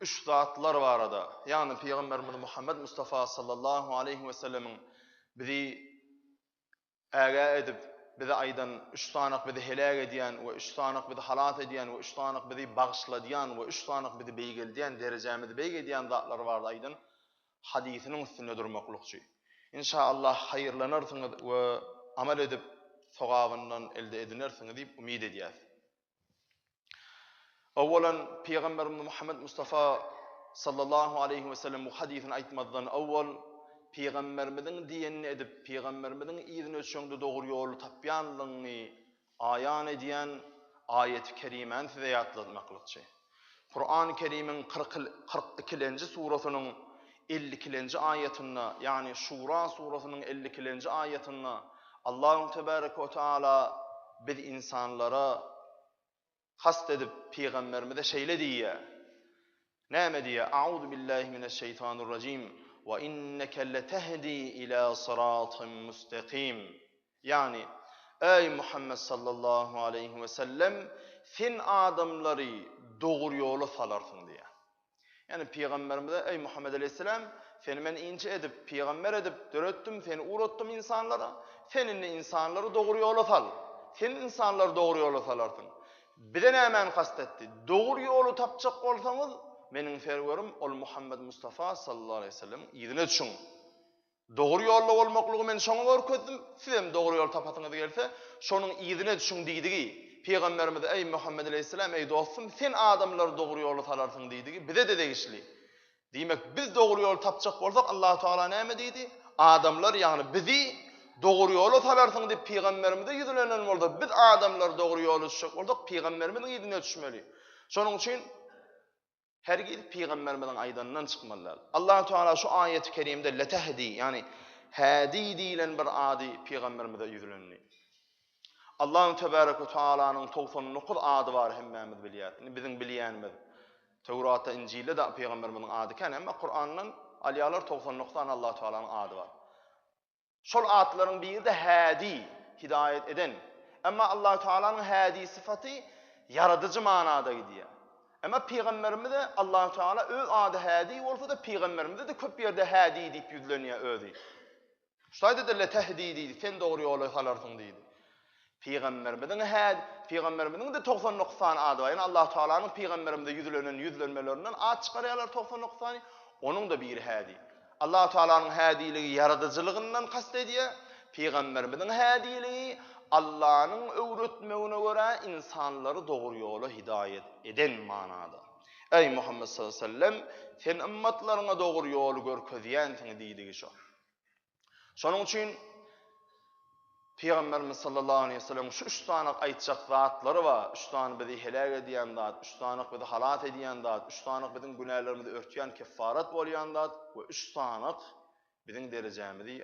üç zatlar barada, ýagny Pygamberimiz Muhammet Mustafa sallallahu aleýhi we sellemiň bizi ägä edip, bize aýdan üç sanyk bizi heläk edýän we üç sanyk bizi halas edýän we üç sanyk bizi bagyşladýan we üç sanyk bizi beýgeldýän, derejämizi beýgedýän zatlar barada aýdan hadysynyň üstünde durmaklykçy. Inşa Allah haýyrlanarsyňyz we amal edip sogabyndan elde edinersiňiz diýip umyt edýäs. Awalan Pygamberimiz Muhammed Mustafa sallallahu aleýhi we sellem bu hadysyny aýtmazdan awal Pygamberimiziň diýenini edip, Pygamberimiziň yzyna öçeňde dogry ýoly tapýanlygyňy aýan edýän aýaty kerimäni size ýatlatmaklykçy. Kurany Kerimiň kyrk kyrk ikilenji surasynyň elli ikilenji aýatynda, ýagny Şura surasynyň elli ikilenji aýatynda Allahun Tebareke we Teala biz ynsanlara kast edip pygamberimize şeýle diýýär. Näme diýýär? Auzu billahi mineş şeýtanir rajim. Wa inneke letehdi ila syratym mustakim. Ýagny, Eý, Muhammet sallallahu aleýhi wesellem, sen adamlary dogry ýola salarsyň diýýär. Ýagny, pygamberimize, Eý, Muhammet aleýhisselam, seni men inçe edip, pygamber edip döretdim, seni ugratdym ynsanlara, sen indi ynsanlary dogry ýola sal. Sen ynsanlary dogry ýola salarsyň. Bize nämäni kast etdi? Dogry ýoly tapjak bolsaňyz, meniň Serwerim, ol Muhammet Mustafa sallallahu aleýhi wesellemiň yzyna düşüň. Dogry ýolda bolmaklygy men şoňa görkezdim, sizem dogry ýoly tapasyňyz gelse, şonuň yzyna düşüň diýdigi. Pygamberimiz, Eý, Muhammet aleýhissalam, eý, dostum, sen adamlary dogry ýola salarsyň diýdigi, bize-de degişli. Diýmek, biz dogry ýoly tapjak bolsak, Allahu tagala näme diýdi? Adamlar, ýagny bizi dogry ýola salarsyň diýip pygamberimize ýüzlenen bolsa, biz adamlary dogry ýola düşürjek bolsak, pygamberimiziň yzyna düşmeli. Şonuň üçin, Hergiz pygamberimiziň aýdanyndan çykmaly däl. Allah Teala şu aýaty kerimde letehdi, ýagny hädi diýlen bir ady pygamberimize ýüzlendi. Allahu tebarek we taalanyň 99 ady bar hemmämiz bilýäris. Indi biziň bilýänimiz Tewratda, Injilde de pygamberimiziň ady kän, emma Kurandan alýarlar 99 sany Allah Taalanyň ady bar. Şol atlaryň biri-de Hädi, hidaýat eden. Emma Allahu Tagalanyň Hädi sypaty ýaradyjy manada gidýär. Emma pygamberimize Allahu Tagala öz ady Hädi bolsa-da pygamberimize-de köp ýerde Hädi diýip ýüzlenýär özi. Şu aýda-da Letehdi diýdi, sen dogry ýola salarsyň diýdi. Pygamberimiziň hä Pygamberimiziň-de togsan dokuz sany ady bar. Ýöne Allahu Tagalanyň Pygamberimize ýüzlenen ýüzlenmelerinden at çykarýarlar togsan dokuz sany. Onuň-da biri Hädi. Allahu Tagalanyň Hädiligi ýaradyjylygyndan kast edýär. Pygamberimiziň Hädiligi Allanyň öwretmegine görä ynsanlary dogry ýola hidaýat eden manada. Eý Muhammet sallallehu aleyhi we sellem! Sen ymmatlaryňa dogry ýoly görkezýänsiň diýdigi şo. Şonuň üçin Pygamberimiz sallallahu aleyhi ve sellem şu üç sany aýtjak zatlary bar. Üç sany bizi heläk edýän zat, üç sany bizi halas edýän zat, üç sany biziň günälerimizi örtýän keffarat bolýan zat we üç sany biziň derejämizi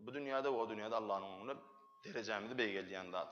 bu dünýäde we o dünýäde Allah'yň öňünde derejämizi beýgeldýän zat.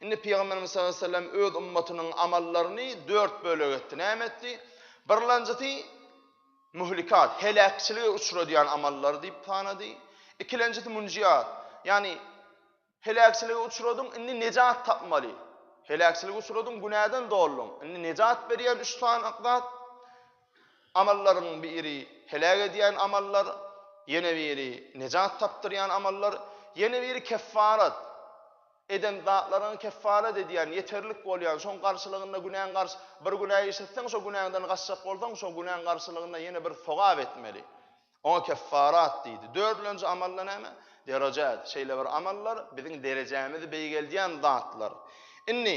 Indi Pygamberimiz sallallahu aleýhi we sellem öz ümmatynyň amallaryny dört bölege etdi. Näme etdi? Birlanjysy muhlikat, heläkçilige uçradýan amallary diýip sanady. Ikilenjisi munjiat, ýagny heläkçilige uçradyň, indi nejat tapmaly. Heläkçilige uçradyň, günäden dolduň, indi nejat berýän üç sany zat, amallaryň biri heläk edýän amallar, ýene biri nejat tapdyrýan amallar, ýene biri keffarat, Eden zatlaryňy keffaret edýän, ýeterlik bolýan, şoň garşylygynda günäň garş, bir günä işletseň şo günäňden gaçjak bolsaň şo günäň garşylygynda ýene bir sogap etmeli. Oňa keffarat diýdi. Dördülenji amalda näme? Derejat. Şeýle bir amallar biziň derejämizi beýgeldýän zatlar. Indi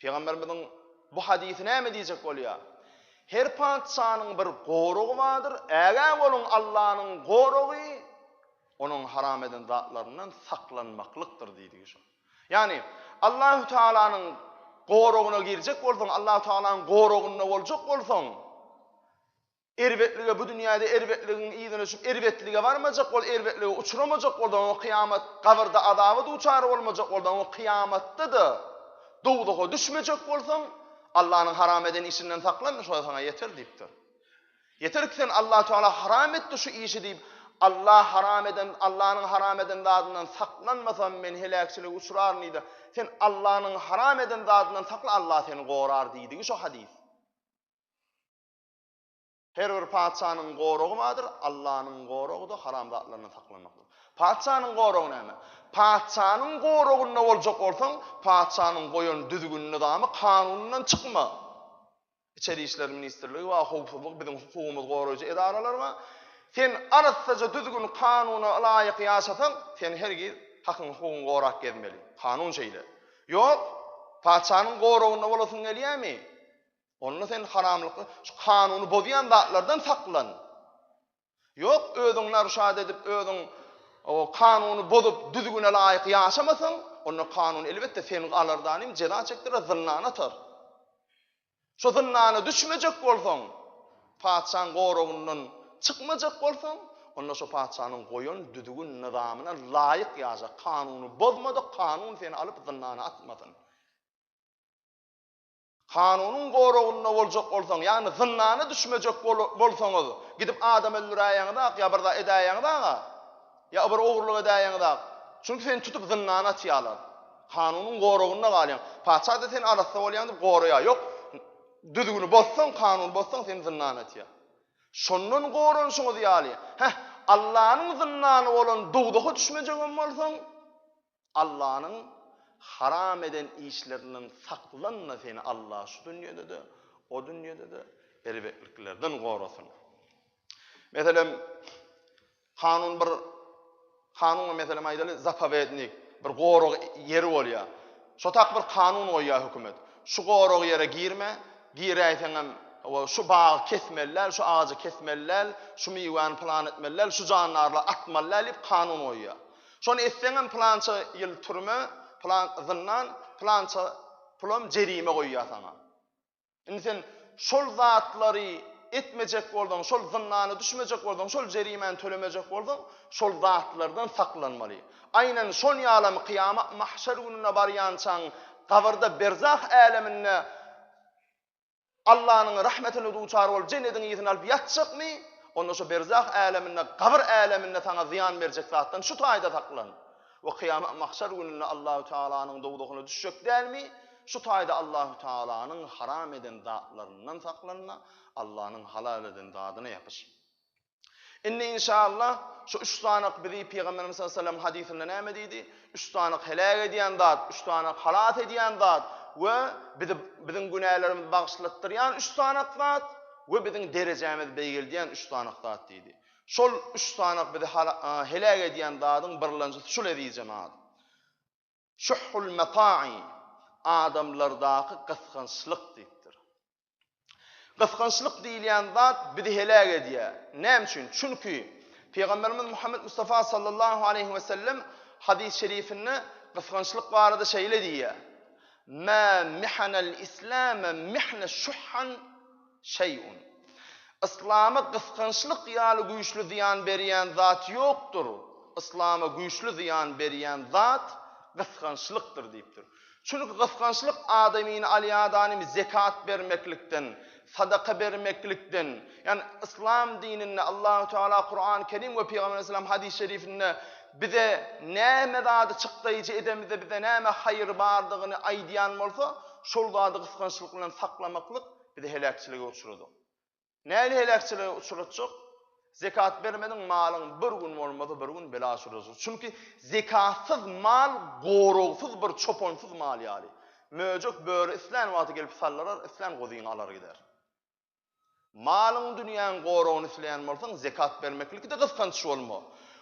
Pygamberimiziň bu hadysy näme diýjek bolýar? Her patyşanyň bir goragy bardyr, ägä boluň Allanyň goragy onuň haram eden zatlaryndan saklanmaklykdyr diýdigi şo. Ýagny Allahu Taalanyň goragyna girjek bolsaň, Allahu Taalanyň goragynda boljak bolsaň, Erbetlige bu dünýäde erbetligiň yzyna düşüp erbetlige barmajak bol erbetligi uçramajak boldan oň kyýamat gabyrda azaba duçar bolmajak boldan oň kyýamatda-da dowzaha düşmejek bolsaň Allanyň haram eden işinden saklan şo saňa ýeter diýipdir. Ýeter ki sen Allah Tagala haram etdi şu işi diýip Allah haram eden Allanyň haram eden zadyndan saklanmasam men heläkçilige uçraryn diýdi sen Allanyň haram eden zadyndan sakla Allah seni gorar diýdigi şo hadys. Her bir patyşanyň goragy bardyr, Allanyň goragy-da haramzatlardan saklanmakdyr. Patyşanyň goragy näme? Patyşanyň goragynda boljak bolsaň, patyşanyň goýan düzgün-nyzamy, kanunyndan çykma. Içeri işler ministrligi bar, howpsuzlyk, biziň hukugymyzy goraýjy edaralar bar. Sen arassaja düzgün-kanuna ylaýyk ýaşasaň, sen hergiz hakyň-hukugyňy gorap gezmeli. Kanun şeýle. Ýok, patyşanyň goragynda bolasyň gelýärmi? Onda sen haramlyk, şu kanuny bozýan zatlardan saklan. Ýok, özüňi narşat edip, özüň o kanuny bozup, düzgüne laýyk ýaşamasaň, onda kanun elbetde seni alar danym, jeza çekdirer, zyndana atar. Şu zyndana düşmejek bolsaň, patyşanyň goragyndan çykmajak bolsaň, onda şu patyşanyň goýan düzgün nyzamyna laýyk ýaşa, kanuny bozmadyk, kanun seni alyp zyndana atmasyn. Kanunyň goragynda boljak bolsaň, ýagny zyndana düşmejek bolsaňyz, gidip adam öldüräýeňizak ýa bir zat edäýeňizak-a, ýa bir ogurlyk edäýeňizak. Çünki seni tutup zyndana atýarlar. Kanunyň goragynda galýaň. Paçha-da seni arassa bolýaň diýip goraýar. Ýok, düzgüni bozsaň, kanuny bozsaň seni zyndana atýar. Şondan goranyşyňyz ýaly, heh, Allanyň zyndany bolan dowzaha düşmejegem bolsaň, Allanyň haram eden işlerinden saklanma seni Allah şu dünýedede o dünýedede erbetliklerden gorasyn. Meselem kanun bir kanun meselem aýdaly zapovednik bir gorag ýeri bolýar. Şo tak bir kanun goýýar hökümet. Şu gorag ýere girme, giräýseň hem şu bagy kesmeliler, şu agajy kesmeliler, şu miwäni plan etmeliler, şu jandarlar atmalylar diýip kanun goýýar. Şony etseňem pylança ýyl türme, pylan zyndan, pylança pulam jerime goýýar saňa. Indi sen şol zatlary etmejek bolsaň, şol zyndana düşmejek bolsaň, şol jerimäni tölemejek bolsaň, şol zatlardan saklanmaly. Aýnan şon ýalam kyýamat mahşer gününe barýançaň, gabyrda berzah äleminde Allanyň rahmetine duçar bolup jennediň ysyn alyp ýatjakmy? Onda şu berzah äleminde, gabyr äleminde saňa zyýan berjek zatdan şu taýda saklan. We kyýamat mahşar gününde Allahü Tealanyň dowzahyna düşjek dälmi? Şu taýda Allahü Tealanyň haram eden zatlaryndan saklanma, Allanyň halal eden zadyna ýapyş. Indi inşaallah şu üç sanaky bizi Pygamberimiz sallallahu aleyhi ve sellem hadysynda näme diýdi? Üç sanaky heläk edýän zat, üç sanaky halas edýän zat we bizi biziň günälerimizi bagyşlatdyrýan üç sanaky zat we biziň derejämizi beýgeldýän üç sanaky zat diýdi. Şol üç sanaky bizi heläk edýän zadyň birlenjisi şu leziz jemaat. Şuhhul mata'i, adamlardaky gysgançlyk diýipdir. Gysgançlyk diýilýän zat bizi heläk edýär. Näme üçin? Çünki Pygamberimiz Muhammed Mustafa sallallahu aleýhi we sellem hadys-y şerifinde gysgançlyk barada şeýle diýýär: "Mä mihanal islame mihne şuhhan Şeý'un. Yslama gysgançlyk ýaly güýçli zyýan berýän zat ýokdur, Yslama güýçli zyýan berýän zat gysgançlykdyr diýipdir. Çünki gysgançlyk adamyny alýadaanym zekat bermeklikden, sadaka bermeklikden, ýagny Yslam dininde Allahu Teala Kurany Kerim we Pygamber Aleyhisselam Hadys Şerifinde bize näme zady çykdaýjy edemizde bize näme haýyr bardygyny aýdýan bolsa, şol zady gysgançlyk bilen saklamaklyk bizi heläkçilige uçradyň. Nähili heläkçilige uçratjak? Zekat bermediň, malyň bir gün bolmasa bir gün bela uçrajaksyn. Çünki zekatsyz mal goragsyz bir çopansyz mal ýaly. Möjek böri islän wagty gelip saldyrar, islän guzyňy alar gider. Malyň dünýäň goragyny isleýän bolsaň, zekat bermeklikde gysganç bolma.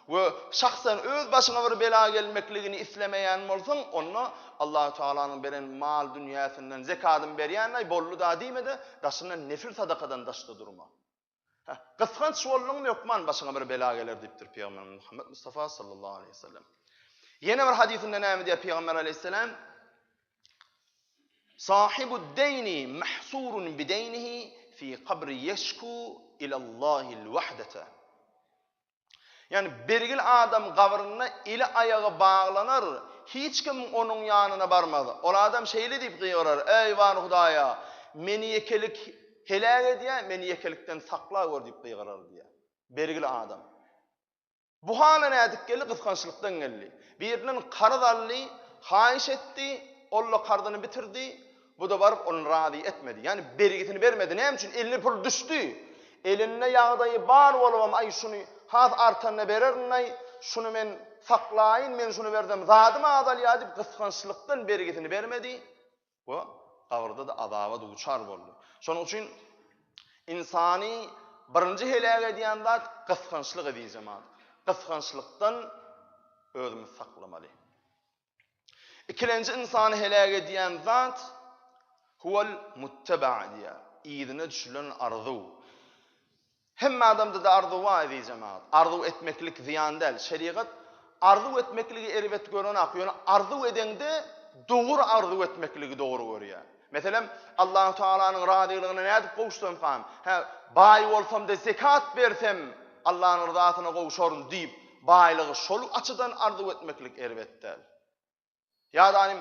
we şahsan öz başyňa bir bela gelmekligini islemeýän bolsaň, onda Allahü Tagalanyň beren mal-dünýäsinden zekadyny berýänlaý, boldy-da diýme-de, daşyndan nefil sadakadan daşda durma. Hä, gysganç bolduňmy, hökman başyňa bir bela geler diýipdir Pygamberimiz Muhammet Mustafa sallallahu aleýhi we sellem. Ýene bir hadysynda näme diýýär Pygamber aleýhissalam? Sahibud-deýni mahsurun bi-deýnihi fi kabri ýeşku ila Allahil wahdata. Ýagny birgil adam gabrynda eli-aýagy baglanar, hiç kim onuň ýanyna barmaz. Ol adam şeýle diýip gygyrar, Eý, bar Hudaýa, meni ýekelik heläk edýär, meni ýekelikden sakla gör diýip gygyrar diýýär. Birgil adam. Bu hala nädip geldi? Gysgançlykdan geldi. Birinden karz aldy, haýyş etdi, ol-da karzyny bitirdi, Bu-da baryp ony razy etmedi. Ýagny bergisini bermedi. Näme üçin? Eline pul düşdi. Elinde ýagdaýy bar bolubam, aý şuny has artanyna bererin-aý, şuny men saklaýyn, men şuny bersem zadym azalýar diýip gysgançlykdan bergisini bermedi we gabrda-da azaba duçar boldy. Şonuň üçin ynsany birinji heläk edýän zat gysgançlyk edijemadyr. Gysgançlykdan özümizi saklamaly. Ikilenji ynsany heläk edýän zat huwal muttaba diýýär. Yzyna düşülen arzuw. Hemme adamda-da arzuw bar eziz jemagat. Arzuw etmeklik zyýan däl. Şerigat arzuw etmekligi erbet görenok, ýöne arzuw edeňde dogry arzuw etmekligi dogry görýär. Meselem, Allahü Tagalanyň razylygyna nädip gowuşsamkam? Hä, baý bolsam-da zekat bersem, Allanyň ryzasyna gowuşaryn diýip, baýlygy şol açydan arzuw etmeklik erbet däl. Ýa-da inim,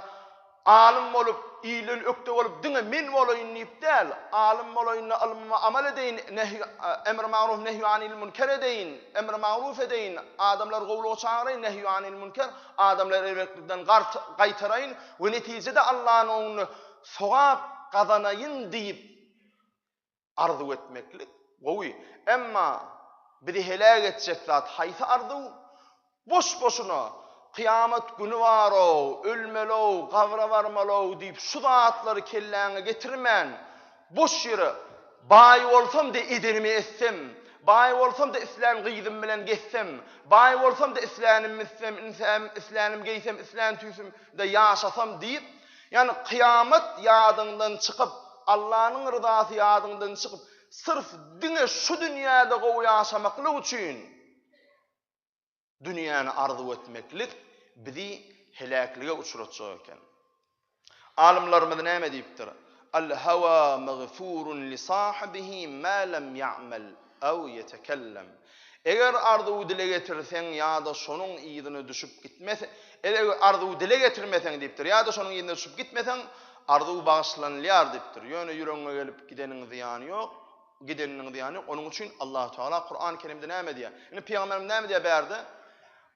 alym bolup, ilden ökde bolup, diňe men bolaýyn diýip däl, alym bolaýyn-da, ylmyma amal edeýin, nehy, emri magruh, nehy anil münker edeýin, emri magruh edeýin, adamlary gowulyga çagyraýyn, nehy anil münker, Adamlary erbetlikden gaýtaraýyn we netijede Allanyň öňünde sogap gazanaýyn diýip arzuw etmeklik gowy. Emma bizi heläk etjek zat haýsy arzuw? Boş-boşuna, Kyýamat güni bar-ow, ölmeli-ow, gabra barmaly-ow diýip şu zatlary kelläňe getirmän, Boş ýere, Baý bolsam-da edenimi etsem, Baý bolsam-da islän gyzym bilen gezsem, Baý bolsam-da islänimi itsem, Insäm, islänimi geýsem, islän tüýsümde ýaşasam diýip, ýagny kyýamat ýadyňdan çykyp, Allanyň ryzasy ýadyňdan çykyp, syrf diňe şu dünýäde gowy ýaşamaklyk üçin, Dünýäni arzuw etmeklik bizi heläklige uçratjak eken. Alymlarymyz näme diýipdir? Al-hawa magfurun li sahibihi ma lam ya'mal aw yetekellam. Eger arzuwy dile getirseň ýa-da şonuň yzyna düşüp gitmes, eger arzuwy dile getirmeseň diýipdir, ýa-da şonuň yzyna düşüp gitmeseň, arzuw bagyşlanylýar diýipdir. Ýöne ýüregiňe gelip gideniň zyýany ýok. Gideniniň zyýany, onuň üçin Allahu Tagala Kurany Kerimde näme diýýär? Indi pygamberimiz näme diýýär bärde?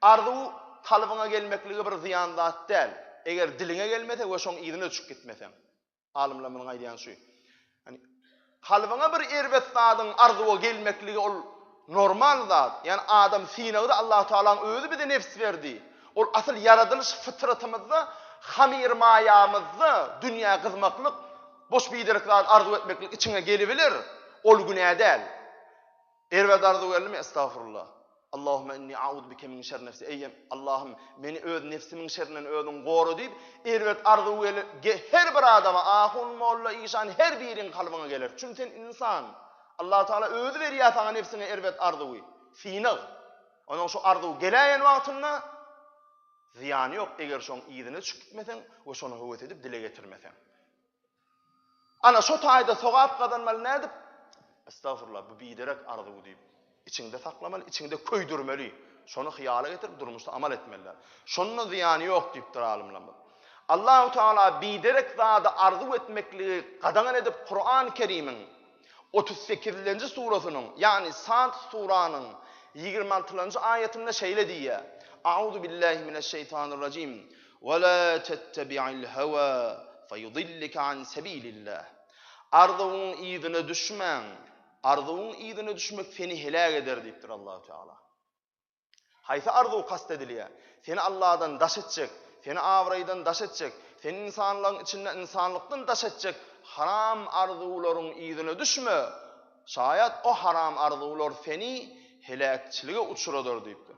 Arzuw kalbyňa gelmekligi bir zyýan zat däl. Eger diliňe gelmese we şoň yzyna düşüp gitmeseň. Alymlar munuň aýdýany şu. Ýani kalbyňa bir erbet zadyň arzuwa gelmekligi ol normal zat. Ýani adam synagdy Allahu Tagalaň özi bize nefs berdi. Ol asyl ýaradylyş fytratymyzda hamyr maýamyzda dünýä gyzmaklyk Boş biderek zady arzuw etmeklik içiňe gelibiler, ol günä däl. Erbet arzuw geldimi, estagfurullah. Allahümme inni a'uzu bike min şerri nefsi. Eý, Allahym, meni öz nefsimiň şerrinden özüň gora diýip, erbet arzuw gel, her bir adama, ahun, molla, işan, her biriň kalbyna geler. Çünki sen ynsan. Allah Taala özi berýär saňa nefsiňe erbet arzuwy, synag. Ondan şu arzuw geläýen wagtynda zyýany ýok, eger şoň yzyna düşüp gitmeseň we şony höwes edip dile getirmeseň. Ana şo taýda sogap gazanmaly nädip? Estagfurullah bu biderek arzuw diýip içiňde saklamaly, içiňde köýdürmeli. Şony hyýala getirip durmuşda amal etmeli. Şonda zyýany ýok diýipdir alymlarymyz. Allahu Teala biderek zady arzuw etmekligi gadagan edip Kuran Kerimiň Otuz sekizinji surasynyň, ýagny Sad suranyň ýigrimi altylanjy aýatynda şeýle diýýär, Auzu billahi mineş şeýtanir rajim, Wa la tettebi'il hawa feyudillike an sebilillah. Arzuwyň yzyna düşmäň, arzuwyň yzyna düşmek seni heläk eder diýipdir Allahu Teala. Haýsy arzuw kast edilýär? Seni Alladan daş etjek, seni abraýdan daş etjek, seni ynsanlaryň içinde ynsanlykdan daş etjek haram arzuwlaryň yzyna düşme, şaýat o haram arzuwlar seni heläkçilige uçradar diýipdir.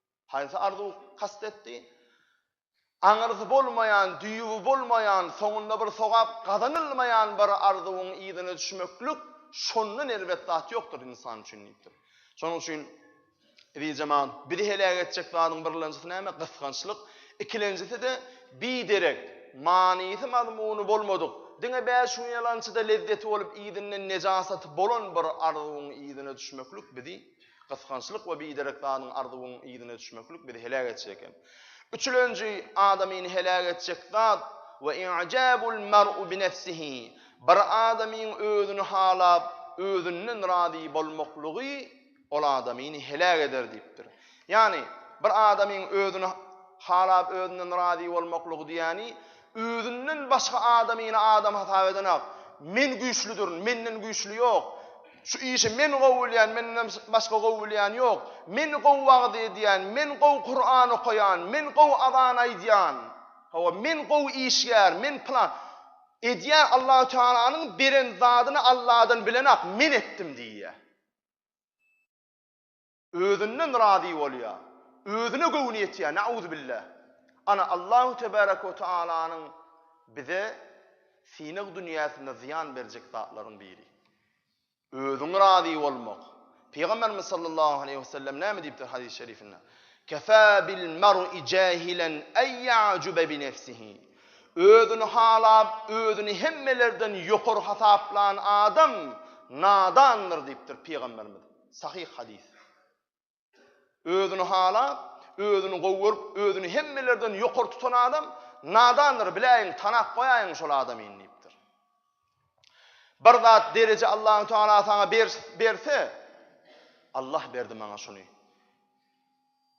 Haýsy arzuw kast etdi? Aňyrsy bolmaýan, düýbi bolmaýan, soňunda bir sogap gazanylmaýan bir arzuwyň yzyna düşmeklik, şondan erbet zat ýokdur ynsan üçin diýipdir. Şonuň üçin, eziz jemagat, bizi heläk etjek zadyň birlenjisi näme? Gysgançlyk. Ikilenjisi-de, biderek, manysy-mazmuny bolmadyk, diňe bäş gün ýalançyda lezzeti bolup yzyndan nejasaty bolan bir arzuwyň yzyna düşmeklik bizi, Gysgançlyk we biderek zadyň arzuwyň yzyna düşmeklik bizi heläk etjek eken. Üçülenji, adamyny heläk etjek zat, we i'jabul mar'u bi nefsihi, bir adamyň özüni halap, özünden razy bolmaklygy ol adamyny heläk eder diýipdir. Ýagny, bir adamyň özüni halap, özünden razy bolmaklygy diýýäni, Özünden başga adamyny adam hasap edenok. Men güýçlüdirin, menden güýçli ýok. Şu işi men gowy bilýän, menden başga gowy bilýän ýok. Men gowy wagyz edýän, men gowy Kuran okaýan, men gowy azan aýdýan. Hawa, men gowy işgär, men plan. Edýän Allahu Tealanyň beren zadyny Alladan bilenok, men etdim diýýär. Özünden razy bolýa. Özüne göwni ýetýä, nauzubilla. Ana Allahu tebaraka we taalanyň bize synag dünýäsinde zyýan berjek zatlaryň biri. Özüň razy bolmak. Pygamberimiz sallallahu aleýhi we sellem näme diýipdir hadys şerifinde? Kefâ bil mer'i jahilen en ya'juba bi nefsihi. Özüni halap, özüni hemmelerden ýokary hasaplan adam nadandyr diýipdir pygamberimiz. Sahyh hadys. Özüni halap, özüni gowy görüp, özüni hemmelerden ýokary tutan adam nadandyr, biläýiň, tanap goýaýyň şol adamy indi. Bir zat dereje Allahu Teala saňa berse, Allah berdi maňa şuny.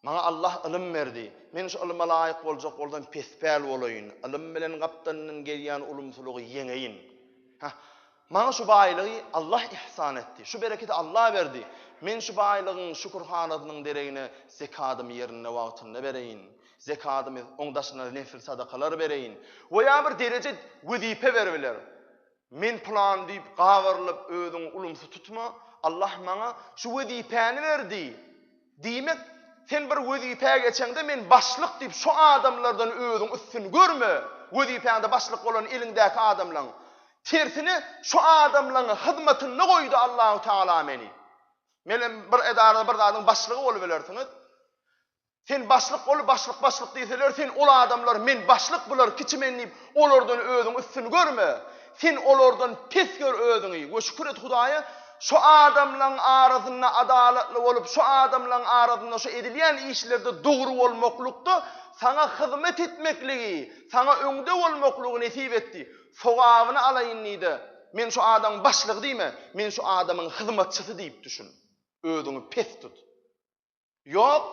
Maňa Allah ylym berdi. Men şu ylyma laýyk boljak bolsam pespäl bolaýyn, ylym bilen gapdalyndan gelýän ulumsylygy ýeňeýin. Hah, maňa şu baýlygy Allah ihsan etdi, şu bereketi Allah berdi. Men şu baýlygyň şükürhanasynyň deregine zekadymy ýerinde wagtynda bereýin, zekadymy, oň daşyna nefil sadakalar bereýin we ýa bir dereje, wezipe beribiler. Men pylan diýip gabyrlyp özüňi ulumsy tutma, Allah maňa şu wezipäni berdi. Diýmek, sen bir wezipä geçeňde men başlyk diýip şu adamlardan özüň üstün görme, wezipäňde başlyk bolan eliňdäki adamlaň. Tersine şu adamlaň hyzmatynda goýdy Allahu tagala meni. Menem bir edarada bir zadyň başlygy bolubilersiňiz. Sen başlyk bol, başlyk başlyk diýseler, sen ol adamlar men başlyk, bular kiçi men diýip, olardan özüňi üstün görme. Sen olardan pes gör özüňi we şükür et Hudaýa, şu adamlaň arasynda adalatly bolup, şu adamlaň arasynda şu edilýän işlerde dogry bolmaklykda saňa hyzmat etmekligi, saňa öňde bolmaklygy nesip etdi. Sogabyny alaýyn diýde, men şu adamyň başlygy diýme, men şu adamyň hyzmatçysy diýip düşün. Özüňi pes tut. Ýok,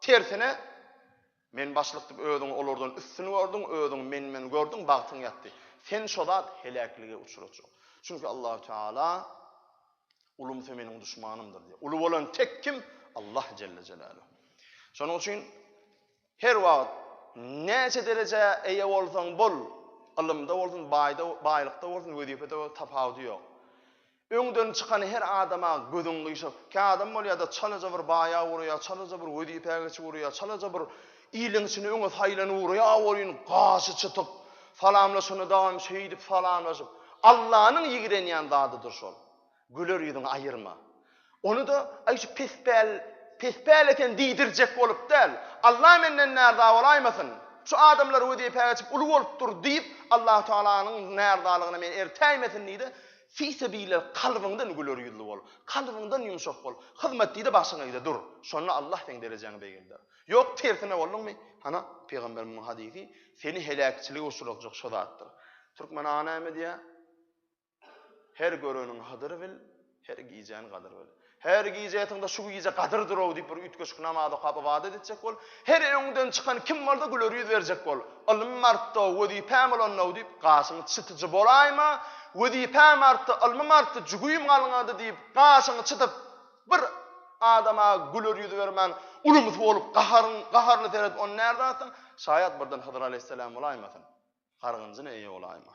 tersine, men başlykdyp özüňi olardan üstün gördüň, özüňi men-men gördüň, bagtyň ýatdy. Sen şo zat heläklige uçrajak. Çünki Allahu Teala Ulumsa meniň duşmanymdyr diýýär. Uly bolan tek kim? Allah jelle jelaluhu. Şonuň üçin Her wagt, näçe derejä eýe bolsaň bol, ylymda bolsun, baýda, baýlykda bolsun, wezipede bolsun, tapawudy ýok. Öňden çykan her adama gözüň gyşar. Kä adam bolýar-da, çalaja bir baýa ugraýar, çalaja bir wezipä geçip ugraýar, çalaja bir iliň içinde öňe saýlanyp ugraýar welin, gaşy çytyk, salamlaşanda dagam şeýdip salamlaşyp, Allanyň ýigrenýän zadydyr şol. Güler ýüzüňi aýyrma. Ony-da, aý şu pespäl, pespäl eken diýdirjek bolup däl. Alla menden närza bolaýmasyn. Şu adamlar wezipä geçip uly bolup dur diýip, Allahu Tagalanyň närzalygyna meni ertäýmesin diý-de, fisebile kalbyňdan güler ýüzli bol. Kalbyňdan ýumşak bol. Hyzmat diý-de başyňa eg-de dur. Şonda Allah seň derejäňi begeldär. Ýok, tersine bolduňmy, hana, pygamberimiň hadysy, seni heläkçilige uçratjak şo zatdyr. Türkmen aga näme diýýär? Her göreniň hadyr bil, her gijäň gadyr bil. Her gije ýatyňda şu gije gadyrdyr-ow diýip bir üýtgeşik namaz okap ybadat etjek bol. Her öňüňden çykan kim bolsa güler ýüz berjek bol. Ylmym artdy-ow, wezipäm ulandy-ow diýip gaşyň çytyjy bolaýma. Wezipäm artdy, ylmym artdy, jügüýim galňady diýip gaşyňy çytyp bir adama güler ýüz bermän ulumsy bolup gaharyň gaharly seredip ony närde atsaň şaýat birden Hydyr aleýhissalam bolaýmasyn. Gargynjyna eýe bolaýma.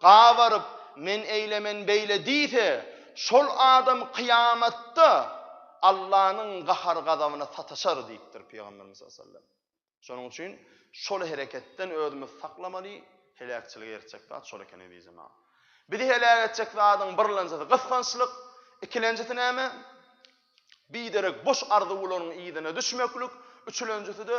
gabaryp, Men eýle, men beýle diýse, şol adam kyýamatda Allanyň gahar-gazabyna sataşar diýipdir Pygamberimiz sallallam. Şonuň üçin şol hereketden özümizi saklamaly, heläkçilige eltjek zat şol eken eziz jemagat. Bizi heläk etjek zadyň birlenjisi gysgançlyk, ikilenjisi näme? Biderek boş arzuwlaryň yzyna düşmeklik, üçülenjisi-de,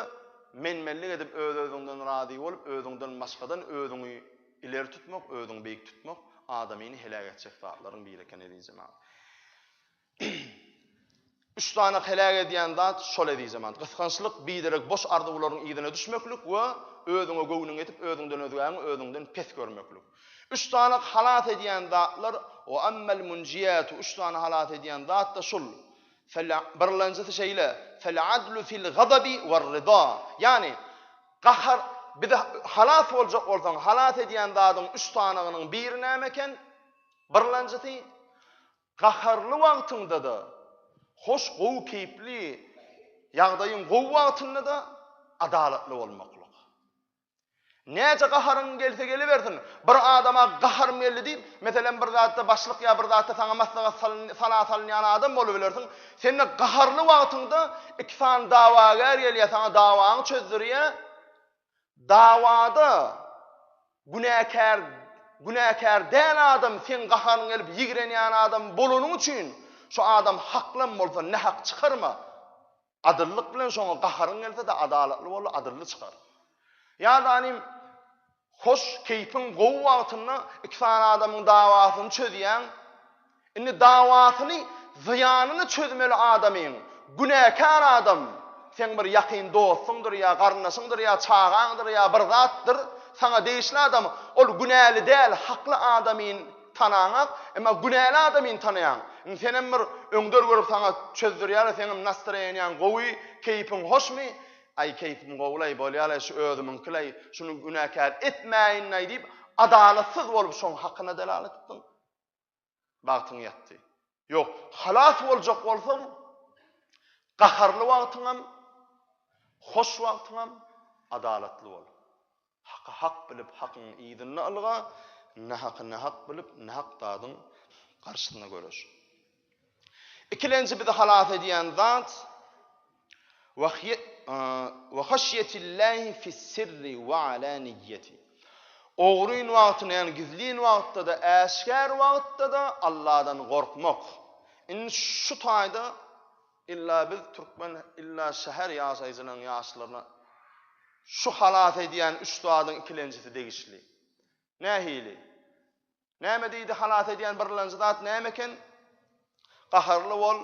men-menlik edip öz-özüňden razy bolup, özüňden başgadan özüňi ileri tutmak, özüňi beýik tutmak adamyny heläk etjek zatlaryň biri eken eziz jemagat. Üç sany heläk edýän zat şol eziz jemagat. Gysgançlyk, biderek boş arzuwlaryň yzyna düşmeklik we özüňe göwnüňi ýetip, özüňden özgäňi özüňden pes görmeklik. Üç sany halas edýän zatlar, Wa ammal munjiýatu, üç sany halas edýän zat-da şul, fel, birlenjisi şeýle, Fel adlu fil gazabi wer ryda, ýagny, gahar, bizi halas boljak bolsaň, halas edýän zadyň üç sanygynyň biri näme eken? Birlenjisi, gaharly wagtyňda-da, hoş, gowy keýpli, ýagdaýyň gowy wagtynda-da adalatly bolmaklyk. Näçe gaharyň gelse gelibersin, bir adama gaharym geldi diýip, meselem, bir zatda başlyk ýa bir zatda saňa maslahat salyn, sala salynýan adam bolubilersiň. Sende gaharly wagtyňda iki sany dawagär gelýär, saňa dawaňy çözdürýär. Dawada günäkär günäkär däl adam, seň gaharyň gelip ýigrenýän adam bolanyň üçin, şu adam haklam bolsa, nähak çykarma. Adyllyk bilen şoňa gaharyň gelse-de adalatly bol, adylly çykar. Ýa-da inim, hoş, keýpiň gowy wagtynda iki sany adamyň dawasyny çözýäň. Indi dawasyny, zyýanyny çözmeli adamyň, günäkär adam, seň bir ýakyn dostuňdyr ýa garyndaşyňdyr ýa çagaňdyr ýa bir zatdyr, saňa degişli adam, ol günäli däl, hakly adamyn, tanaňak, emma günäli adamyny tanaýaň. Indi senem bir öňder görüp saňa çözdürýäle, seňem nastroýeniýaň gowy, keýpiň hoşmy? Aý, keýpim gowy-laý, bolýa-laý, şu özümiňki-laý, şuny günäkär etmäýin-laý diýip, adalatsyz bolup şoň hakyna delalat etdiň. Bagtyň ýatdy. Ýok, halas boljak bolsaň, gaharly wagtyňam, hoş wagtyňam adalatly bol. Haky hak bilip, hakyň yzynda ylga, nahaky nahak bilip, nahak zadyň garşysyna göreş. Ikilenji bizi halas edýän zat, Wa haşýetillâhi fis-sirri wa alâniýýeti. Ogryn wagtynda, ýagny gizlin wagtda-da, äşgär wagtda-da Alladan gorkmak. Indi şu taýda illa biz türkmen, illa şäher ýaşaýjylarynyň ýaşlaryna şu halas edýän üç zadyň ikilenjisi degişli. Nähili? Näme diýdi, halas edýän birlenji zat näme eken? Gaharly bol,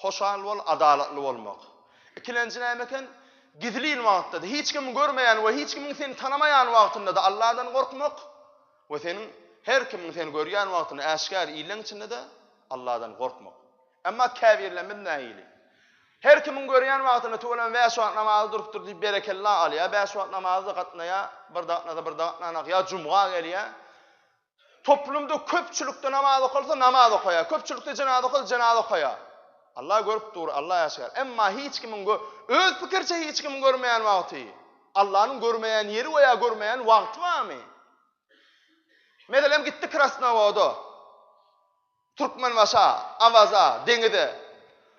hoşal bol, adalatly bolmak. Ikilenji näme eken? Gizlin wagtda-da, hiç kimiň görmeýän we hiç kimiň seni tanamaýan wagtynda-da Allahdan gorkmak we seniň her kimiň seni görýän wagtynda äşgär illeň içinde-de Allahdan gorkmak. Emma käbirlerimiz nähili? Her kimiň görýän wagtynda tüweleme bäş wagt namazy durupdyr diýip berekella alýar, bäş wagt namaza-da gatnaýar, bir-de gatnasa, bir-de gatnanok, ýa jumga gelýär. Toplumda köpçülikde namaz okalsa, namaz okaýar, köpçülikde jenaza okalsa, jenaza okaýar. Allah görüp dur, Allah äşgär. Emma hiç kimiň öz pikiriçe hiç kimiň görmeýän wagty, Allanyň görmeýän ýeri we ýa görmeýän wagty barmy? Meselem gitdi Krasnowoda. Türkmenbaşa, Awaza, deňize.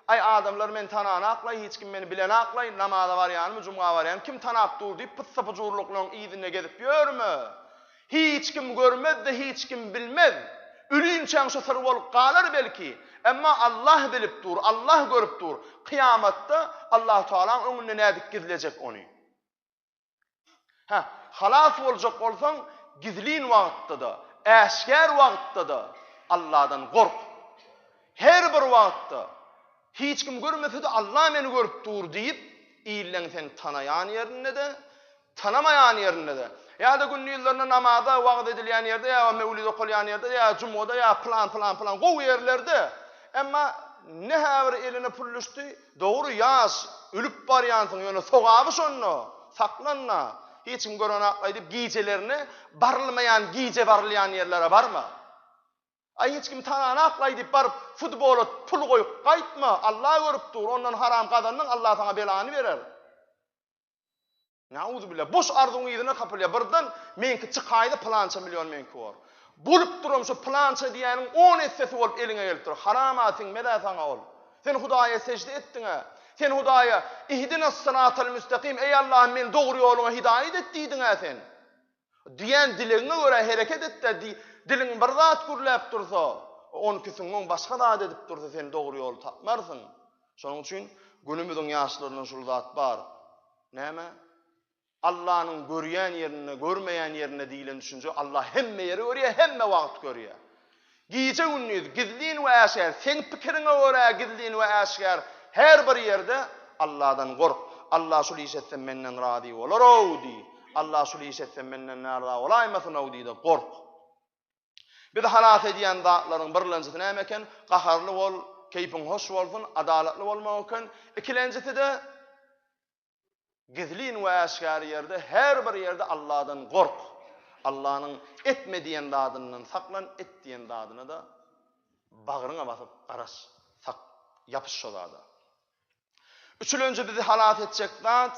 Aý, adamlar meni tananaklaý, hiç kim meni bilenaklaý, namaza barýanymy, jumga barýanymy kim tanap dur diýip, pyssapyjurlyklaryň yzynda gezip ýörme. Hiç kim görmez-de, hiç kim bilmez. Ölünçäň şu syr bolup galar belki. Emma Allah bilip dur, Allah görüp dur. Kyýamatda Allahu tagalaň öňünde nädip gizlejek ony? Hä, halas boljak bolsaň, gizlin wagtda-da, äşgär wagtda-da Alladan gork. Her bir wagtda, Hiç kim görmese-de Alla meni görüp dur diýip, illeň seni tanaýan ýerinde-de, tanamaýan ýerinde-de, ýa-da gündizlerine namaza, wagyz edilýän ýerde, ýa möwlid okalýan ýerde, ýa jumgada, ýa pylan, pylan, pylan gowy ýerlerde, emma ne-hä bir eline pul düşdi, Dogry ýaş, ölüp barýansyň ýöne sogaby şonda, saklanma, hiç kim görenok aýdyp gijelerine barylmaýan gije barylýan ýerlere barma. Aý hiç kim tananok aýdyp baryp futbola pul goýup gaýtma, Alla görüp dur, ondan haram gazandyň Alla saňa belany berer. Nauzubila boş arzuň yzyna kapylýa birden meňki çykaýda pylança million meňki bor. Bolup duram şu pylança diýäniň on essesi bolup eliňe gelip dur. Haram a siňmezä saňa ol. Sen Hudaýa sejde etdiňä. Sen Hudaýa ihdinas syratal müstakim eý Allahym meni dogry ýoluňa hidaýat et diýdiňä sen. Diýen dilegiňe görä hereket et-de, diý, diliň bir zat gürläp dursa, onki süňňüň başga zat edip dursa sen dogry ýoly tapmarsyň. Şonuň üçin günümiziň ýaşlaryndan şul zat bar. Näme? Allanyň görýän ýerinde, görmeýän ýerinde diýlen düşünje, Alla hemme ýeri görýär, hemme wagt görýär. Gije-gündiz, gizlin we äşgär, seň pikiriňe görä gizlin we äşgär her bir ýerde Alladan gork. Alla şul iş etsem menden razy bolar-ow diý. Alla şul iş etsem menden närza bolaýmasyn-ow diý-de gork. Bizi halas edýän zatlaryň birlenjisi näme eken? Gaharly bol, keýpiň hoş bolsun, adalatly bolmak eken. Ikilenjisi-de, Gizlin we äşgär ýerde, her bir ýerde Alladan gork. Allanyň etme diýen zadyndan saklan, et diýen zadyna-da bagryňa basyp garaş, sak, ýapyş şo zada. Üçülenji bizi halas etjek zat,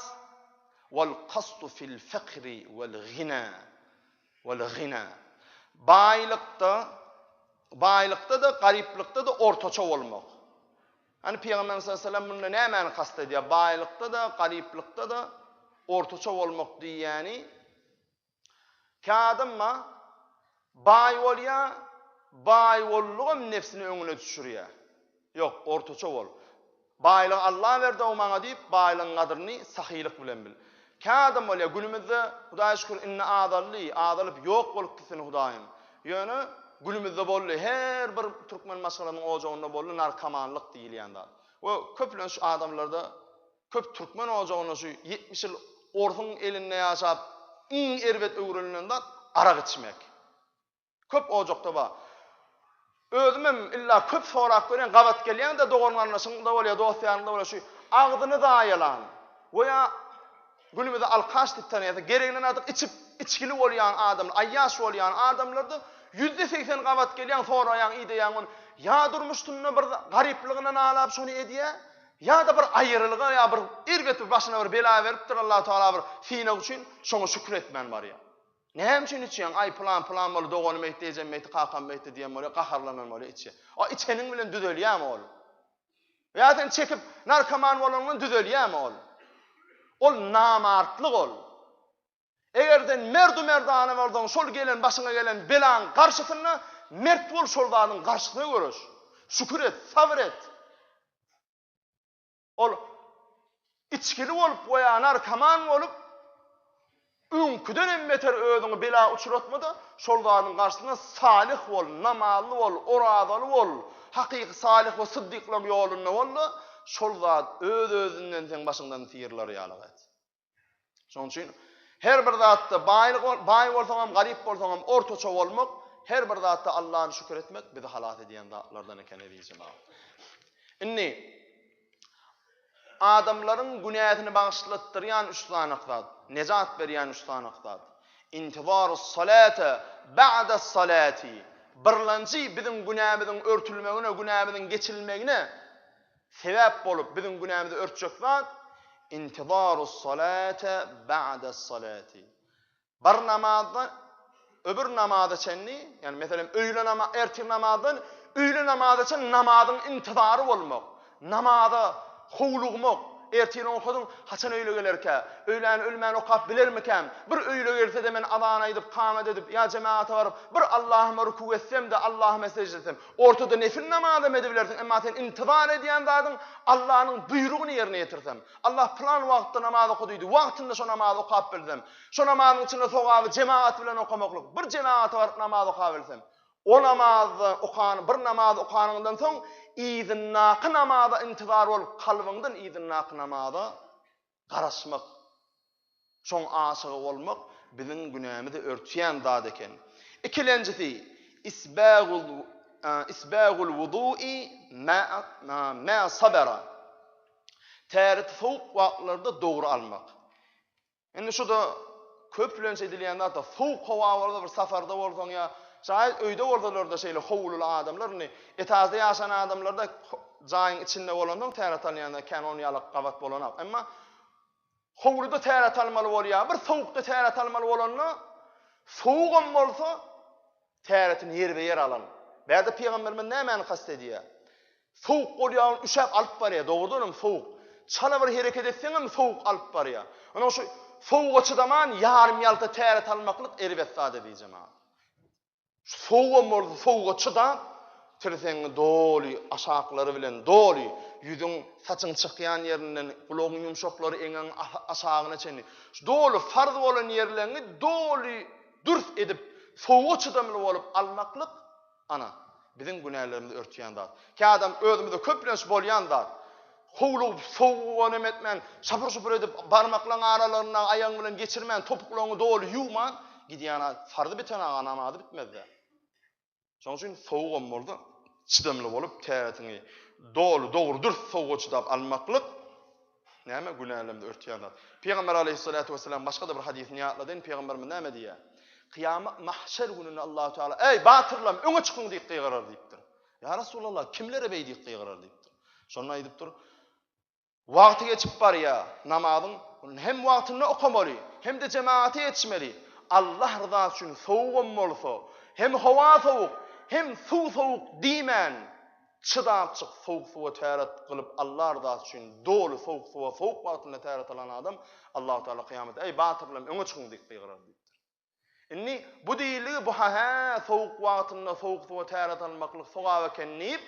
Wal kastu fil fekri wal gina, wal gina. Baýlykda, baýlykda-da, garyplykda-da ortaça bolmak. Hany Pygamberimiz sallallahu aleýhi we sellem munda nämäni kast edýär? Baýlykda-da, garyplykda-da ortaça bolmak diýýäni käadamma baý bolýar, baý bollugam nebsini öňüne düşürýär. Ýok, ortaça bol. Baýlygy Allah berdi-ow maňa diýip, baýlygyň gadryny sahylyk bilen bil. Kä adam bolýa günümizde Hudaýa şükür indi azaldy, azalyp ýok bolupdy seni Hudaýym. Ýöne günümizde boldy, her bir türkmen maşgalasynyň ojagynda boldy narkomanlyk diýilýän zat. We köplenç adamlarda köp türkmen ojagynda şu ýetmiş ýyl orsuň elinde ýaşap iň erbet öwrenilen zat arak içmek. Köp ojakda bar. Özümem illa köp sorap görýän, gabat gelýän-de dogan-garyndaşyňda bolýar, dost-ýaryňda bolýar, şu agzyny zaýalan we ýa günümize alkaş diýip tanýan, gereginden artyk içip, içgili bolýan adam, aýýaş bolýan adamlarda ýüzde segsen gabat gelýän, soraýaň, ideýäň ony. Ýa durmuşynda bir garyplygyna nalap şony edýär, ýa-da bir aýrylyga ýa bir erbet bir başyna bir bela beripdir Allahu tagala bir synag üçin, şoňa şükür etmän barýar. Näme üçin içýäň, aý, pylan, pylan boldy, doganym eýtdi, ejem eýtdi, kakam eýtdi diýen bolýar, gaharlanan bolýar, içýär. A içeniň bilen düzelýärmi ol? Ýa sen çekip, narkoman bolanyň bilen düzelýärmi ol? Ol namartlyk ol. Eger sen merdu-merdana bolsaň, şol gelen, başyňa gelen belaň garşysynda mert bol, şol zadyň garşysyna göreş. Şükür et, sabyr et. Ol içgili bolup we ýa narkoman bolup, öňküden hem beter özüňi bela uçratma-da, şol zadyň garşysyna salyh bol, namazly bol, orazaly bol, hakyky salyh we syddyklaryň ýolunda bol-da, şol zat öz-özünden seň başyňdan syýrylar ýalyk et. Şonuň üçin her bir zatda baýlyk baý bolsaň hem, garyp bolsaň hem ortaça bolmak, her bir zatda Allah'a şükür etmek bizi halas edýän zatlardan eken eziz jemaat. Indi adamlaryň günäsini bagyşlatdyrýan üç sany zat, nejat berýän üç sany zat. Intibarus salata ba'da salati. Birlenji biziň günämiziň örtülmegine, günämiziň geçilmegine Sebäp bolup biziň günämizi örtjek zat, intizarus salate ba'des salati. Bir namazdan öbür namaza çenli, ýagny meselem öýle namazy, ertir namazdan öýle namaza çenli namazyň intizary bolmak, namaza howlugmak, ertiri okadyň, haçan öýle gelerkä, öýläni ölmän okap bilermikäm, bir öýle gelse-de men azan aýdyp, kamet edip, ýa jemagata baryp, bir Allahuma rükug etsem-de, Allahuma sejde etsem. Ortada nefil namaz hem edibilersiň, emma sen intizar edýän zadyň Allanyň buýrugyny ýerine ýetirsem. Allah pylan wagtda namaz oka diýdi, wagtynda şo namazy okap bilsem. Şo namazyň içinde sogaby jemagat bilen okamaklyk, bir jemagata baryp namaz okabilsem. O namazda okan, bir namaz okanyňdan soň yzyndaky namaza intizar bolup, kalbyňdan yzyndaky namaza garaşmak, şoň aşygy bolmak biziň günämizi örtýän zat eken. Ikilenjisi, isbagul isbagul wudu'i ma'a ma sabara, täret sowuk wagtlarda dogry almak. Indi şu-da Köplenç edilýän zat-a, sowuk howa bolsa bir saparda bolsaň ýa jaýyz öýde bolsalar-da şeýle howluly adamlar indi, etažda ýaşan adamlar-da jaýyň içinde bolansoň tär at alýanda kän on ýalak gabat bolanak. Emma howluda tär at almaly bolýar. Bir sowukda tär at almaly bolanda, sowugam bolsa, Täretini ýerbe-ýer alan. Bärde pygamberimiz nämäni kast edýär? Sowuk bolýagyny üşäp alyp barýar, dogrudan hem sowuk. Çala bir hereket etseňem sowuk alyp barýar. Ynha şu sowuga çydaman ýarym ýalta täret almaklyk erbet zat eziz jemagat. Şu sowugam bolsa sowuga çydap, tirsegiňi doly, aşaklary bilen doly, ýüzüň, saçyň çykýan ýerinden, gulagyň ýumşaklary, eňegiň aşagyna çenli, şu doly farz bolan ýerleriňi doly dürs edip, sowuga çydamly bolup almaklyk, ana, biziň günälerimizi örtýän zat. Kädam özümizde köplenç bolýan zat. Howlugyp, sowuga neme etmän, şapur-şupur edip, barmaklaryň aralaryndan aýagyň bilen geçirmän, topuklaryňy doly ýuwman gidýän, farzy biten aga namazy bitmez-dä. Şonuň üçin sowugam bolsa çydamly bolup täretini doly dogry dürs sowuga çydap almaklyk näme günälemde örtýän zat. Pygamber aleyhissalatu vesselam başga-da bir hadysynda ýatladyn pygamberimiz näme diýýär? Kyýamat mahşer gününde Allahu Teala eý batyrlam öňe çykyň diýip gygyrar diýipdir. Ýa Resulallah kimlere beýdip gygyrar diýipdir. Şonda aýdypdyr Wagty geçip barýar. Namazyň hem wagtynda okamaly, hem-de jemagata ýetişmeli. Allah ryzasy üçin sowugam bolsa, hem howa sowuk, hem suw sowuk diýmän, çydapjyk sowuk suwa täret gylyp Allah ryzasy üçin doly sowuk suwa sowuk wagtynda täret alan adam Allahutagala kyýamatda, Eý, batyrlarym, öňe çykyň diýip gygyrar diýipdir. Indi bu diýildigi bu ha-hä sowuk wagtynda sowuk suwa täret almaklyk sogap eken diýip,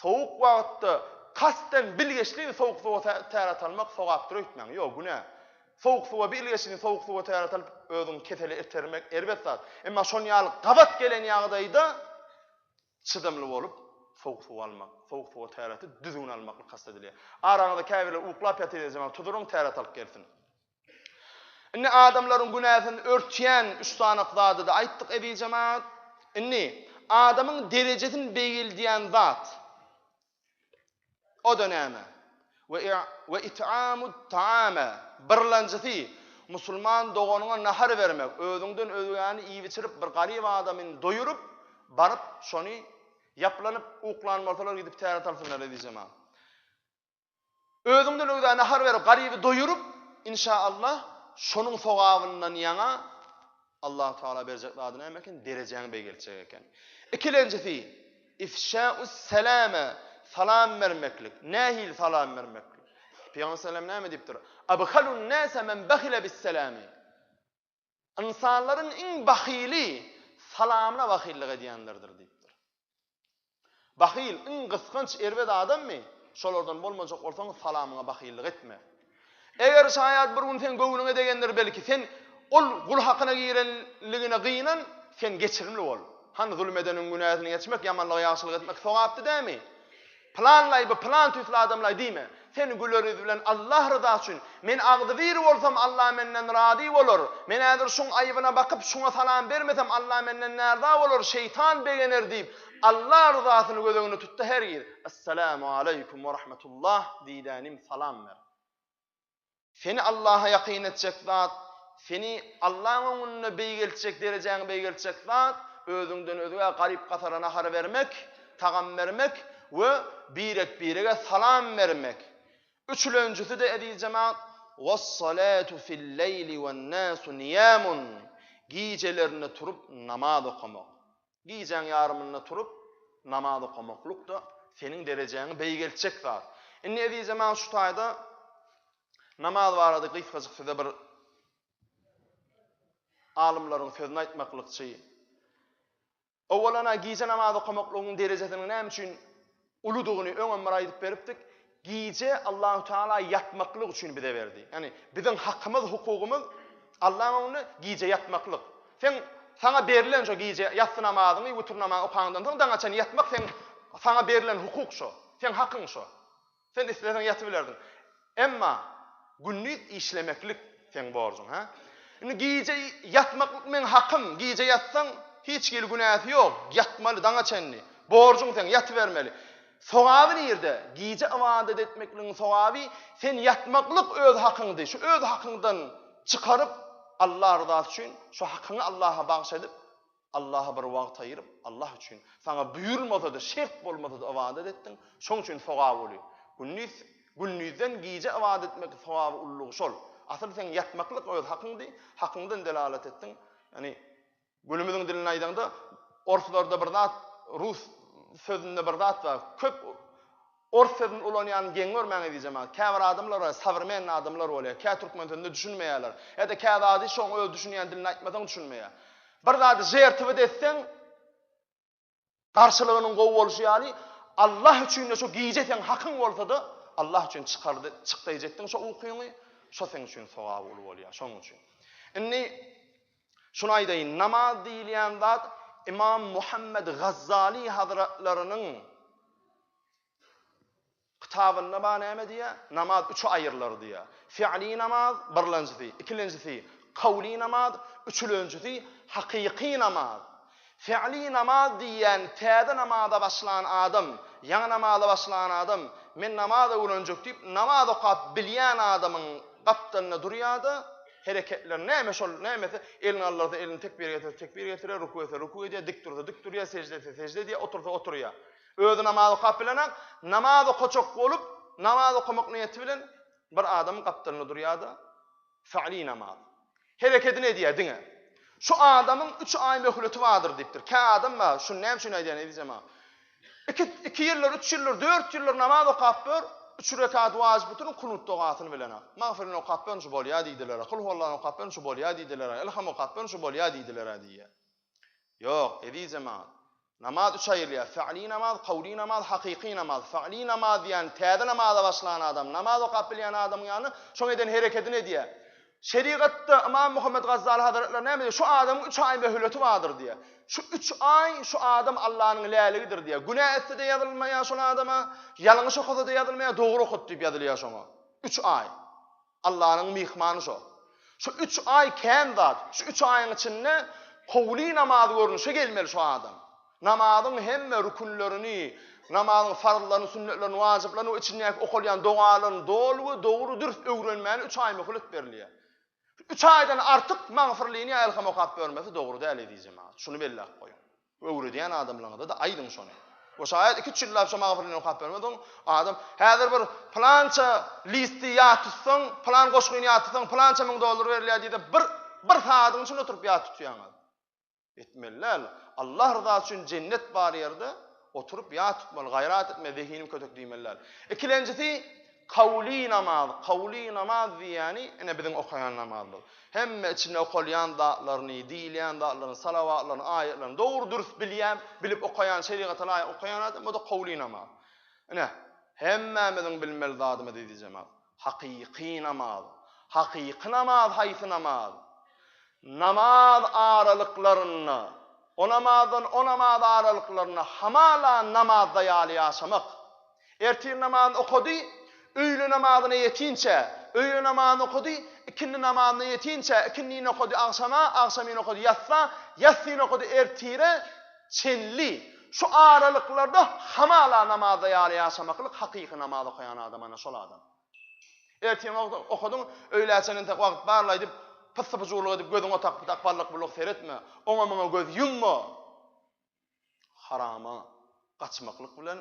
sowuk wagtda kasden bilgeşlin sowuk suwa täret almak sogapdyr öýtmäň. Ýok, günä. Sowuk suwa bilgeşlin sowuk suwa täret alyp özüňi kesele itermek erbet zat. Emma şon ýaly gabat gelen ýagdaýda çydamly bolup sowuk suw almak, sowuk suwa täreti düzgün almaklyk kast edilýär. Araňyzda käbirler uklap ýatyr diýjek, tuduryň täret alyp gelsin. Indi adamlaryň günäsini örtýän üç sany zady-da aýtdyk, eziz jemagat. Indi adamyň derejesini beýgeldýän zat, o-da näme? We it'amut ta'ame, birlenjisi, musulman doganyňa nahar bermek, özüňden özgäni iýip-içirip, bir garyp adamy doýuryp, baryp, şony ýaplanyp, uklan bolsalar, gidip täret alsynlar, eziz jemagat. Özüňden öwzä nahar berip, garyby doýuryp, inşa Allah, şonuň sogabyndan ýaňa Allahu tagala berjek zady näme eken, derejäň beýgeljek eken. Ikilenjisi, ifşä'us selame, salam bermeklik. Nähili salam bermeklik? Pygamber sallallahu aleyhi ve sellem näme diýipdir? Abhalun nase men bahile bis selami. Ynsanlaryň iň bahyly salamyna bahyllyk edýänlerdir diýipdir. Bahyl, iň gysganç, erbet adammy? Şolardan bolmajak bolsaň, salamyňa bahyllyk etme. Eger şaýat bir gün seň göwnüňe degendir, belki, sen ol gul hakyna girenligine gynan, sen geçirimli bol. Hany, zulum edeniň günäsini geçmek, ýamanlyga ýagşylyk etmek sogapdy dämi? Pylanlaý by pylan tüýsli adamlaý diýme. Sen güler ýüz bilen Allah ryzasy üçin, men agzybir bolsam Allah menden razy bolar, men häzir şuň aýybyna bakyp şuňa salam bermesem Allah menden närza bolar, şeýtan begener diýip Allah ryzasyny göz öňüne tutda hergiz Essalamu aleýkum we rahmetullah diýdänim salam ber. Seni Allaha ýakyn etjek zat, seni Allahyň öňünde beýgeltjek, derejäňi beýgeltjek zat, özüňden özge garyp-gasara nahar bermek, tagam bermek we birek-birege salam bermek. Üçlenjisi-de, eziz jemagat, Wes-salatu fil-leýli wen-nasu niýamun, gijelerine turup namaz okamak. Gijäň ýarymynda turup, namaz okamaklyk-da seniň derejäňi beýgeltjek zat. Indi ezizem maňa şu taýda namaz barada gysgajyk size bir alymlaryň sözüni aýtmaklykçy. Owalana gije namaz okamaklygyň derejesiniň näme üçin Uludygyny öňem bir aýdyp beripdik. Gije Allahu Teala ýatmaklyk üçin bize berdi. Ýagny biziň hakymyz, hukugymyz Allaň öňünde gije ýatmaklyk. Seň saňa berlen şo gije ýassy namazyňy, witr namazyňy okandan soň daňa çenli ýatmak seň saňa berlen hukuk şo. Seň hakyň şo. Sen isleseň ýatybilersiň. Emma gündiz işlemeklik seň borjuň, hä? Indi gije ýatmaklyk meň hakym, gije ýatsaň, hiç hili günäsi ýok, ýatmaly daňa çenli, borjuň seň, ýatybermeli. Sogaby nirde? Gije ybadat etmekligiň sogaby, sen ýatmaklyk öz hakyňdy, şu öz hakyňdan çykaryp, Alla ryzasy üçin şu hakyňy Allaha bagyş edip, Allaha bir wagt aýyryp, Allah üçin, saňa buýrulmasa-da, şert bolmasa-da ybadat etdiň, şoň üçin sogap uly. Gündiz, gündizden gije ybadat etmek sogaby ululygy şol. Asyl seň ýatmaklyk öz hakyňdy, hakyňdan delalat etdiň. Ýagny, günümiziň dilini aýdaňda, orslarda bir zat, rus sözünde bir zat bar, köp Ors sözüni ulanýanyny geň görmäň eziz jemagat. Käbir adamlara sowremenniý adamlar bolýar. Kä türkmen sözüne düşünmeýärler. Ýa-da kä zady şoň öz düşünýän dilinde aýtmasaň düşünmeýär. Bir zady žertwt etseň, garşylygynyň gowy bolşy ýaly, Allah üçin-de şo gije seň hakyň bolsa-da, Allah üçin çykar çykdaýjekdiň şo ukyňy, şo seň üçin sogaby uly bolýar. Şonuň üçin. Indi Şuny aýdaýyn, namaz diýilýän zat Ymam Muhammet Gazzali hazratlarynyň kitabynda bar näme diýýär? Namaz üçe aýrylar diýýär. Fi'li namaz, birlenjisi, ikilenjisi, kowly namaz, üçülenjisi, hakyky namaz. Fi'li namaz diýýän täze namaza başlan adam, ýaňy namaza başlan adam, men namaza öwrenjek diýip, namaz okap bilýän adamyň gapdalynda durýar-da, hereketleri näme şol, nämesi, elini galdyrsa elini tekbir getirse tekbir getirýär, ruku etse ruku edýär, dik dursa dik durýar, sežde etse sežde edýär, otursa oturýar. Özi namaz okap bilenok, namaz okajak bolup, namaz okamak niýeti bilen bir adamyň gapdalynda durýar-da, Fi'li namaz. Herekedini edýär diňe. Şu adamyň üç aý möhleti bardyr diýipdir. Kä adam bar, şuny näme üçin aýdýan eziz jemagat? Iki, iki ýyldyr, üç ýyldyr, dört ýyldyr namaz okap dur, üç rekat wajyp witrin kunut dogasyny bilen-ä. Magfyryn okap durun, şu bolýar diýdiler-ä. Kul huwallany okap durun, şu bolýar diýdiler-ä. Ilham okap durun, şu bolýar diýdiler-ä diýýär. Ýok, eziz jemaat. Namaz üçe aýrylýar. Fi'li namaz, kowly namaz, hakyky namaz. Fi'li namaz diýýän täze namaza başlan adam, namaz okap bilýän adamyň ýany şoň eden herekedini edýär. Şerigatda Ymam Muhammet Gazzaly hazretleri näme diýýär? Şu adamyň üç aý möhleti bardyr diýýär. Şu üç aý şu adam Allanyň läligidir diýýär. Günä etse-de ýazylmaýar şol adama, ýalňyş okasa-da ýazylmaýar, dogry okadyp diýip ýazylýar şoňa. Üç aý. Allanyň myhmany şo. Şu üç aý kän zat. Şu üç aýyň içinde howly namaz görnüşe gelmeli şu adam. Namazyň hemme rükünlerini, namazyň farzlaryny, sünnetlerini, wajyplaryny we içindäki okalýan dogalaryny doly we dogry, dürs öwrenmäne üç aý möhlet berilýär. Şu üç aýdan artyk magfyrlyny ýa ylham okap görmesi dogry däl, eziz jemagat. Şuny belläp goýuň. Öwredýän adamlaryňyza-da aýdyň şony. We şaýat iki-üç ýyllap şo magfyryny okap bermezsoň, adam, Häzir bir pylança listi ýat tutsaň, pylan goşgyny ýat tutsaň, pylança müň dollar berilýär diýse, bir, bir sagadyň içinde oturyp ýat tutýaňyz. Etmeli däl. Allah ryzasy üçin jennet bar ýerde oturyp ýat tutmaly, gaýrat etmeli, zehiniň kötek diýmeli däl. Ikilenjisi, Kawly namaz, kawly namaz diýýäni, ine biziň okaýan namazymyz. Hemme içinde okalýan zatlaryny, diýilýän zatlaryny, salawatlaryny, aýatlaryny dogry dürs bilýän, bilip okaýan, şerigata laýyk okaýan adam, bu-da kawly namaz. Ine, hemmämiziň bilmeli zadymyz eziz jemat, hakyky namaz. Hakyky namaz haýsy namaz? Namaz aralyklarynda, o namazdan o namaz aralyklarynda hamala namazda ýaly ýaşamak. Ertir namazyny okady, öýle namazyna ýetinçä, öýle namazyny okady, ikindi namazyna ýetinçä, ikindini okady agşama, agşamyny okady ýatsa, ýatsyny okady ertire çenli. Şu aralyklarda hamala namazda ýaly ýaşamaklyk hakyky namaz okaýan adam ana şol adam. Ertir okadyň, öýlä çenli entek wagt barla aýdyp, pyssy-pyjuwlyk edip gözüňe tak-tak ballykbulluk seretme, oňa-muňa göz ýumma. Harama gaçmaklyk bilen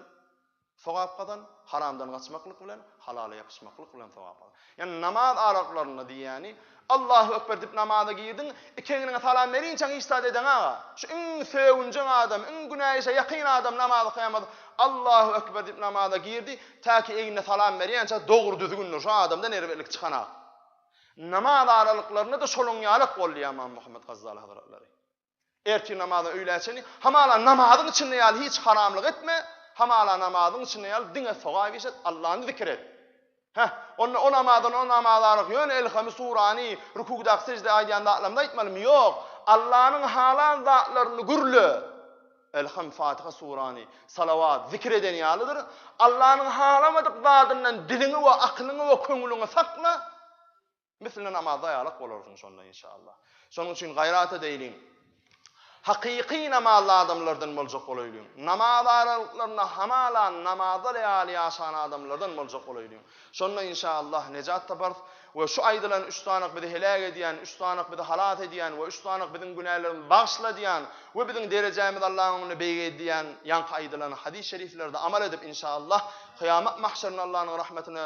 sogap gazan, haramdan gaçmaklyk bilen, halala ýapyşmaklyk bilen sogap gazan. Ýagny namaz araplarynda diýýäni, Allahu ekber diýip namaza girdiň, iki egniňe salam berinçäň hiç zat edeň aga. Şu iň sögünjeň adam, iň günä işe ýakyn adam namazy kylýamaz. Allahu ekber diýip namaza girdi, täki egnine salam berýänçä dogry düzgündir, şu adamda nerwelilik çykanak. Namaz aralyklarynda-da şonuň ýalak boldy ýa Imam Muhammet Gazzali hazratlary. Ertir namaza öýlä çenli, hamala namazyň içinde ýaly hiç haramlyk etme, hamala namazyň içinde ýaly diňe sogap iş et, Allany zikir et. Heh, onda o namazdan o namaza aralyk ýöne elhamy, surany, rukuwdaky sejde aýdýan zatlarymyzy aýtmalymy? Ýok, Allanyň halan zatlaryny gürle. Elham, Fatiha, surany, salawat, zikir eden ýalydyr. Allanyň halamadyk zadyndan diliňi we akylyňy we köňlüňi sakla. Misline namazda ýalak bolarsyň şonda inşallah. Şonuň üçin gaýrat edeýliň. Hakyky namazly adamlardan boljak bolaýlyň. Namaz aralyklarynda hamala namazlar ýaly ýaşan adamlardan boljak bolaýlyň. Şonda inşallah nejat taparys. We şu aýdylan üç sanak bizi heläk edýän, üç sanak bizi halas edýän we üç sanak biziň günälerimizi bagyşladýan we biziň derejämizi Allahyň öňünde beýgeldýän ýaňky aýdylan hadys-şeriflerde amal edip inşallah kyýamat mahşerinde Allanyň rahmetine